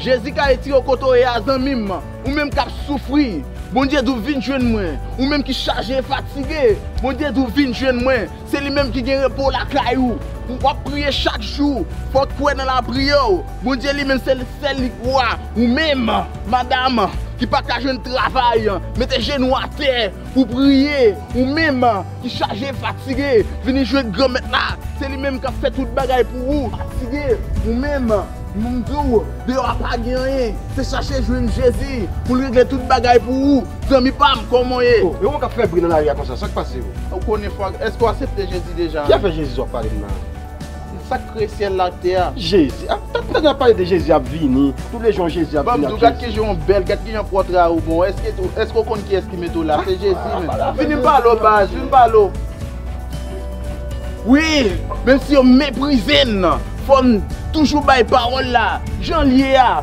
Jezi ka retire w kote w ye a zanmi m, ou menm k ap soufri, Bondye di w vin jwenn mwen, ou menm ki chaje e fatige, Bondye di w vin jwenn mwen, se li menm ki gen repo lakay ou, w ap priye chak jou, fò w kwè nan lapriyè w, Bondye li menm se li sèl li k wa, ou menm madam ki pa ka jwenn travay, mete jenou w atè pou w priye, ou menm. Ki chaje, fatige, vini jwenn Granmèt la, se li menm k'ap fè tout bagay pou ou. Fatige, ou menm, m di w, deyò a pa gen anyen, se chache jwenn Jezi, pou l regle tout bagay pou ou, zanmi pa m, kòman w ye? O, e ou k'ap fè bri nan lari a konsa, sa k pase ou? Ou konnen fwa, èske w asepte Jezi deja? Ki afè Jezi w ap pale m nan? Se sak kreye syèl la ak tè a. Jezi ap tap tande yap pale de Jezi ap vini tou le jon Jezi ap vini ak Jezi. Banm diw gad kijan ou bèl gad kijan pòtra ou bon eske eske ou konn kiyès ki mete ou la se Jezi menm vini m pale w baz vini m pale w. Wi menm si yo meprize n fò n toujou bay pawòl la janl ye a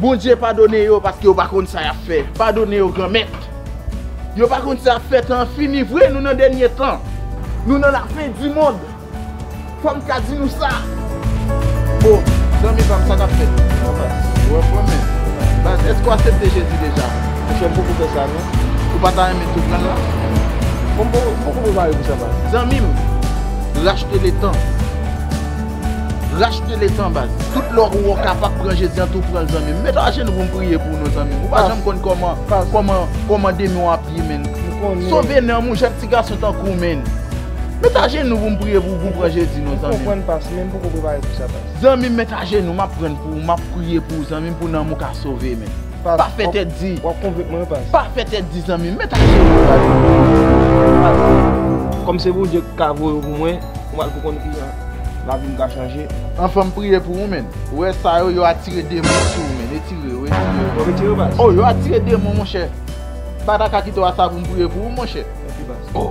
Bondye padone yo paske yo pa konn sa yap fè padone yo granmèt yo pa konn sa yap fè tan an fini vre nou nan dènye tan nou nan la fen di mond fòm ka di nou sa oh zanmi pam sa kap fèt ou anfòm men baz èske ou asepte jezi deja monchè m poko fè sa non ou pa ta renmen tou pran l la m poko prepare pou sa baz zanmi m rachte le tan. Rachte letan baz. Tout lè ou wè w kapab pran jezi an tou pranl zanmim. Met ajenou pou m priye pou ou non zanmim. Ou pa janm konn kòman kòman kòman demon an ap ye menn. Sove nanm ou jèn ti gason tankou w menn. Met ajenou pou m priye pou ou pran jezi non zanmim. Ou konprann pas menn poko prepare pou sa pas. Zanmim met ajenou map prann pou ou map priye pou ou zanmim pou nanm ou ka sove menn. Pa fè tèt di. Wap konvenk mwen wi pas. Pa fè tèt di zanmim met ajenou baz. Kòm se Bondye ki ka voye w pou mwen. Ou al pou konn kijan. Lavi m ka chanje. Anfan m priye pou ou menn. Ou wè sa yo, yo atire demon sou ou menn. Etire yo, etire yo. Bon, etire yo baz. Oh, yo atire demon monchè. Ba da ka kite w a sa pou m priye pou ou monchè. Ok baz. Oh,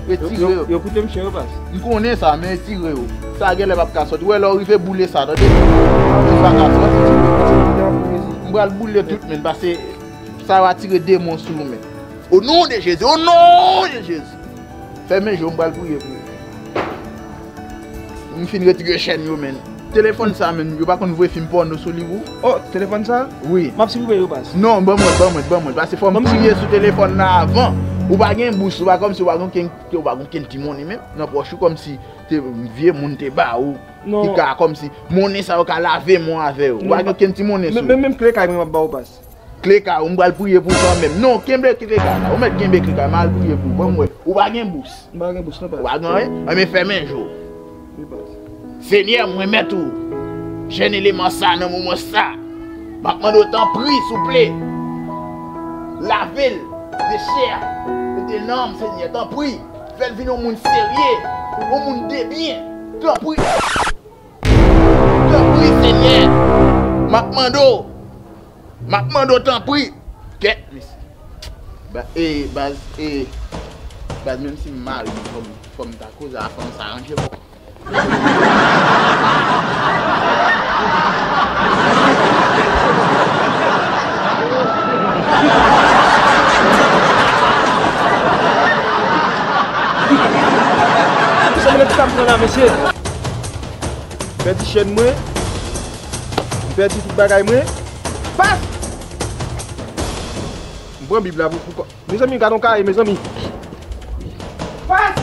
etire yo. Yo koute m chè yo baz. M konnen sa, men etire yo. Sa genlè pap ka soti. Ou wè lè w rive boule sa tande. Li pa ka soti. Etire yo, etire yo dan pou Jezi. M pral boule tout menn pase sa yo atire demon sou ou menn. O non de Jezi, o non de Jezi. Fèmen je w m pral priye pou ou. M fin retire chèn yo menn. Telefòn sa menm yo pa konn voye fim pòno sou li pou. Oh telefòn sa? Wi. Map siprive yo pas. Non ban mwen ban mwen ban mwen pase fòm priye sou telefòn nan avan ou pa gen bous ou pa kòmsi ou pa gen kenn ou pa gen kenn ti monnen menm nan pòch ou kòmsi te vye moun te ba ou ki ka kòmsi monnen sa yo ka lave mwen avè yo ou pa gen kenn ti monnen sou ou. Menm kle kay mwen map ba ou pas. Kleka ou m pral priye pou ou kanmenm non kenbe kleka ou mèt kenbe kleka mal priye pou ou banm wè ou pa gen bous m pa gen bous non past ou pa gen anyen ebyen fèmen je w wi past senyè m remèt ou jèn eleman sa nan moman sa map mande w tanpri souple lave l de chè a e de nanm senyè tanpri fèl vin yon moun serye yon moun debyen tanpri. Tanpri senyè map mande w map mande w tanpri kè mesi e baz e baz menm si m mare fom ta koze a fanm sa ranje pou m. M pèdi chèn mwen. M pèdi tout bagay mwen. Paf! M pran bib la pou kòm. Mezanmi gadon kay mezanmi. Paf!